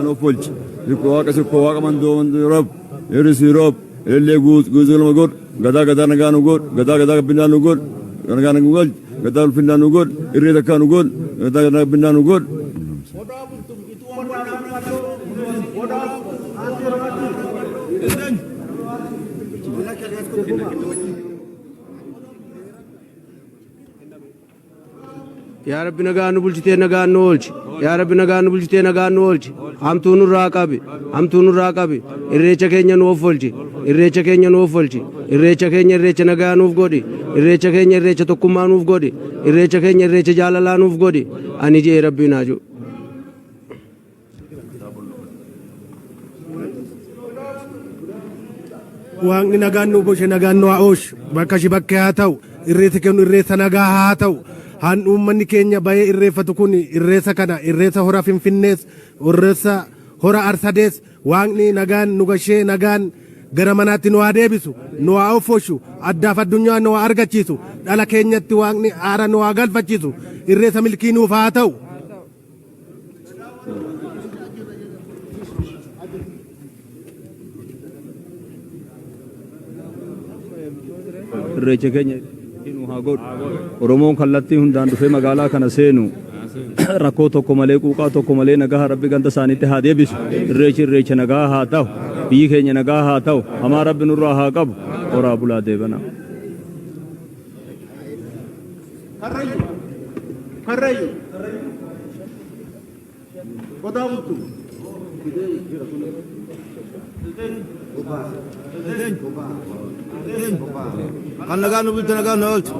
Nopolchi, Zikko Waaqa Zikko Waaqa Mandoo Mandoo Rob, Eris Rob, Ellee Guut Guutuu Lama God, Gadaa Gadaa Nagaa Nu God, Gadaa Gadaa Gabbinaa Nu God, Nagaa Nagaa Galch, Gadaa Ulfinnaa Nu God, Irree Takkaa Nu God, Gadaa Gadaa Gabbinaa Nu God. Yaa Rabbi nagaan nu bulchitee nagaan nu oolchi. Yaa Rabbi nagaan nu bulchitee nagaan nu oolchi. Hamtuu nurraa qabi. Hamtuu nurraa qabi. Irreecha keenya nu offolchi. Irreecha keenya nu offolchi. Irreecha keenya irreecha nagaa nuuf godhi. Irreecha keenya irreecha tokkummaa nuuf godhi. Irreecha keenya irreecha jaalalaa nuuf godhi. Ani jee Rabbiin haa jiru. waaqni nagaan nu bushe nagaan nu haa'oosh bakka shi bakkee haa ta'u irreessi kennu irreessa nagaa haa ta'u haan uummanni keenya bahee irreeffatu kun irreessa kana irreessa hora finfinnees irreessa hora arsadees waaqni nagaan nu gashee nagaan gara manaatti nu haa deebisu nu haa offooshu addaaf addunyaa nu haa argachiisu dhala keenyatti waaqni aara nu haa galfachiisu irreessa milkii nuuf haa ta'u. irreecha keenya nu haa godhu oromoon kallattii hundaan dhufee magaalaa kana seenu rakkoo tokko malee quuqaa tokko malee nagaa rabbi ganda isaaniitti haa deebisu irreechi irreecha nagaa haa ta'u biyyi keenya nagaa haa ta'u hamaa rabbi nurraa haa qabu horaa bulaa deebana. Karrayyuu. Karrayyuu. Qotaa bultuu. Kan nagaan nu bulchu nagaan nu oolchu.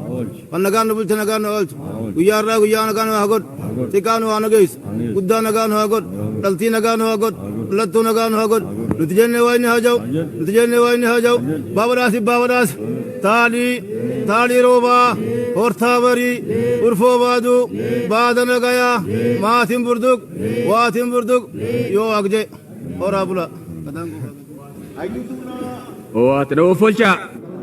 Kan nagaan nu bulchu nagaan nu oolchu. Guyyaa irraa guyyaa nagaan nu haa godhu. Xiqqaa nu haa nageessu. Guddaa nagaan nu haa godhu. Dhaltii nagaan nu haa godhu. Dhaltuu nagaan nu haa godhu. Nuti jennee waa inni haa ja'u. Nuti jennee waa inni haa ja'u. Baaba dhaasi baaba dhaasi. Taalii, Taalii Roobaa, Hortaa Barii, Urfoo Baaduu, Baada Nagayaa, Maatiin Burduq, Waatiin Burduq, Yoo Agje, Horaa Bulaa. Owaata na offolchaa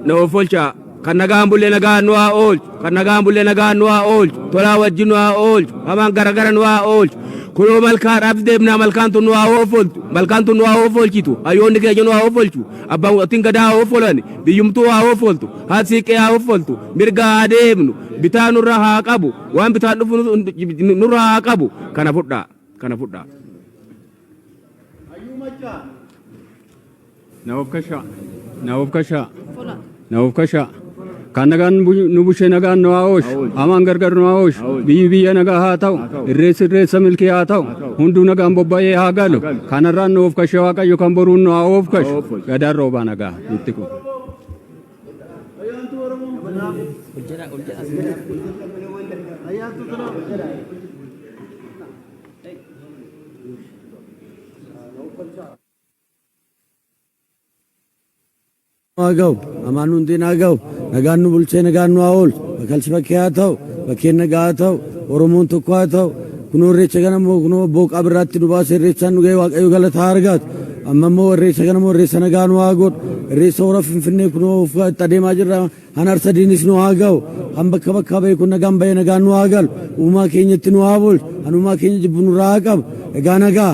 na offolchaa kan nagaan bulle nagaan nu haa oolchu kan nagaan bulle nagaan nu haa oolchu tolaa wajjin nu haa oolchu hamaan garagara nu haa oolchu kunoo malkaadhaaf deemnaa malkaan tun nu haa offoltu malkaan tun nu haa offolchitu hayyoonni keenya nu haa offolchu Abbootiin gadaa haa hoffolan, biyyumtuu haa hoffoltu, haati siiqqee haa hoffoltu, mirgaa haa deemnu, bitaa nurraa haa qabu, waan bitaan dhufu nu- nurraa haa qabu. Kana fudhaa, kana fudhaa. Hayyuu Maccaa. Na of kashaa, na of kashaa. Na ofkasha. Kan nagaan bu- nu bushe nagaan nu haa oolchu. Amaan gargar nu haa oolchu. Biyyi biyya nagaa haa ta'u. Irreessi irreessa milkii haa ta'u. Hunduu nagaan bobba'ee haa galu. Kanarraan nu ofkashe Waaqayyo kan boruun nu haa ofkashu. Gadaan roobaa nagaa. Itti kun. nu haa gahu hamaan nu hin haa gahu nagaan nu bulchee nagaan nu haa oolchu bakalchi bakkee haa ta'u bakkeen nagaa haa ta'u oromoon tokko haa ta'u kunoo irreecha kana immoo kunoo booqaa birraatti nu baase irreechaan nu ga'e waaqayyo galata haa argaatu amma immoo irreecha kana immoo irreessa nagaa nu haa godhu irreessa hora finfinnee kunoo of itti adeemaa jirra han harsa diinis nu haa gahu han bakka bakkaa ba'e kun nagaan ba'e nagaan nu haa galu uumaa keenyatti nu haa bulchu han uumaa keenya jibbu nurraa haa qabu egaa nagaa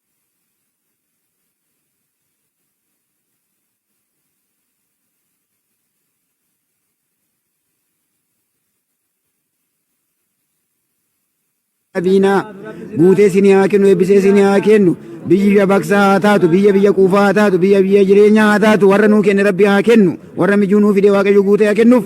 Abiinaa guutee isin haa kennu eebbisee isin haa kennu biyya baksaa haa taatu biyya biyya quufaa haa taatu biyya biyya jireenyaa haa taatu warra nuu kenne rabbi haa kennu warra mijuu nuu fide waaqayyo guutee haa kennuuf.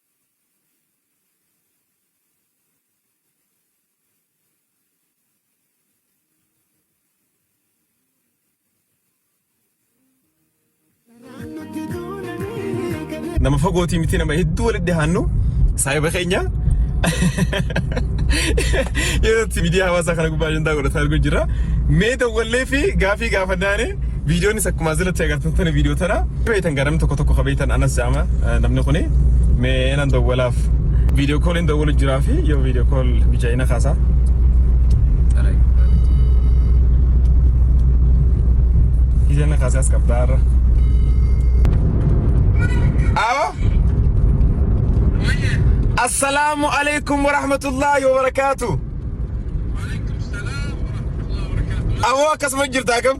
nama fagootii miti nama hedduu walitti dhihaannu saahiba keenya yeroo itti miidiyaa hawaasaa kana gubbaa ajandaa godhataa argu jira mee dawwallee fi gaafii gaafannaane Viidiyoonis akkuma asirratti agartan kun viidiyoo tana beektan gara namni tokko tokko ka beektan anas jaama namni kuni mee nan dawwalaaf viidiyoo kooliin dawwalu jiraa fi yoo viidiyoo kool mijaa'ina kaasaa. Mijaa'ina kaasaa as qabdaa irra. Awo. Assalaamu alaikum wa rahmatullahi wa barakaatu. Awoo akkasuma jirta akkam?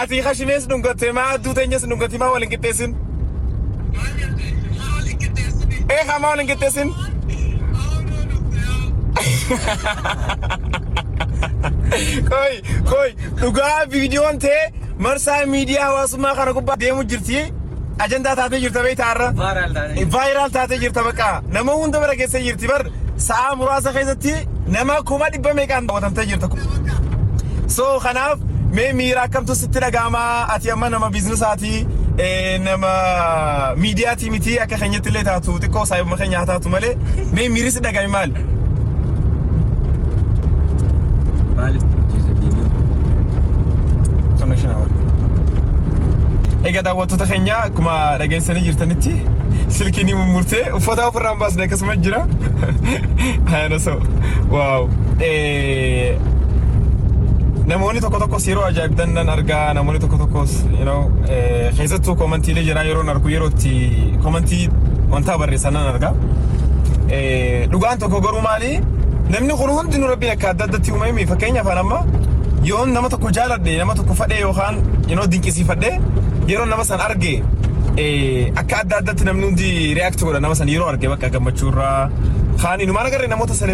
Atii kashinees dhungattee maa adduu teenyas dhungatii maa waliin qixxeessin. Ee haa maa waliin qixxeessin. Koi koi dhugaa viidiyoon tee marsaa miidiyaa hawaasummaa kana gubbaa deemu jirti. Ajandaa taatee jirta beektaa irra. Vaayiraal taatee jirta baqqaa. Nama hunda bara keessa jirti bar. sa'aa muraasa keessatti nama kuma dhibba meeqaan daawwatamtee jirta. So kanaaf mee miira akkamtu sitti dhaga'ama ati amma nama biizinasaati nama miidiyaati miti akka keenyatti illee taatu xiqqoo saayibuma keenya haa taatu malee mee miirri si dhaga'ame maal? Maaliif hojjeta deemuu? Egaa daawwattoota keenya akkuma dhageessanii jirtanitti silkiin mummurtee uffata ofirraa hin baasne akkasumas Nama jira. Ayana so. Wow. Eh, namoonni tokko tokkos yeroo ajaa'ibdan nan argaa namoonni tokko tokkos you know, eh, keessattuu koomantiilee jiraa yeroo nan argu yeroo itti koomantii wantaa barreessan nan argaa. Eh, dhugaan tokko garuu maali namni kun hundi nu rabbiin akka adda addatti uumame fakkeenyaaf an amma yoo nama tokko jaaladhe nama tokko fadhee yookaan you know, dinqisiifadhe yeroo nama san arge eh, akka adda adda irratti namni hundi react godha nama san yeroo arge bakka gammachuu irraa kaan inumaan agarre namoota